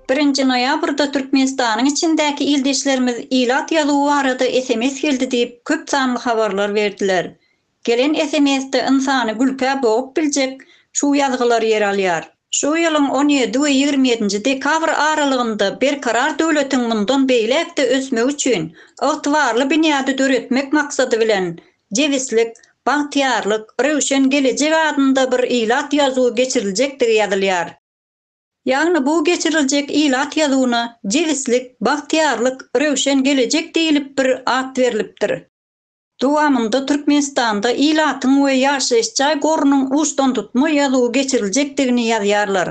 Birinji noýabrda Türkmenistanyň içindäki ildeşlerimiz ilat ýazuwy barada sms geldi diýip, köp sanly habarlar berdiler. Gelen SMS-de ynsany gülkä bogup biljek şu ýazgylar ýer alýar. Şu ýylyň on ýedi we ýigrimi ýedinji dekabr aralygynda Berkarar döwletiň mundan beýläk-de ösmegi üçin ygtybarly binýady döretmek maksady bilen, jebislik, bagtyýarlyk, röwşen gelejek adynda bir ilat ýazuwy geçiriljekdigi ýazylýar. Ýagny bu geçiriljek ilat ýazuwyna jebislik, bagtyýarlyk, röwşen gelejek diýlip bir at berlipdir. Dowamynda Türkmenistanda ilatyň we ýaşaýyş jaý gorunyň uçdantutma ýazuwy geçiriljekdigini ýazýarlar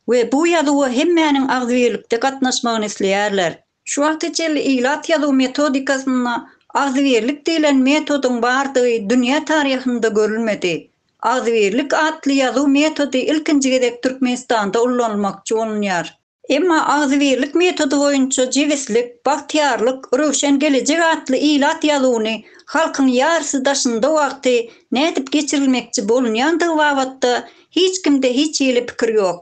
we bu ýazuwa hemmäniň agzybirlikde gatnaşmagyny isleýärler. Şu wagta çenli ilat ýazuw metodikasynda agzybirlik diýlen metodyň bardygy dünýä taryhynda görülmedi. Agzybirlik atly ýazuw metody ilkinji gezek Türkmenistanda ullanylmakçy bolunýar. Emma agzybirlik metody boýunça jebislik, bagtyýarlyk, röwşen gelejek atly ilat ýazuwyny halkyň ýarysy daşynda wagty nädip geçirilmekçi bolunýandygy babatda hiç kimde hiç hili pikir ýok.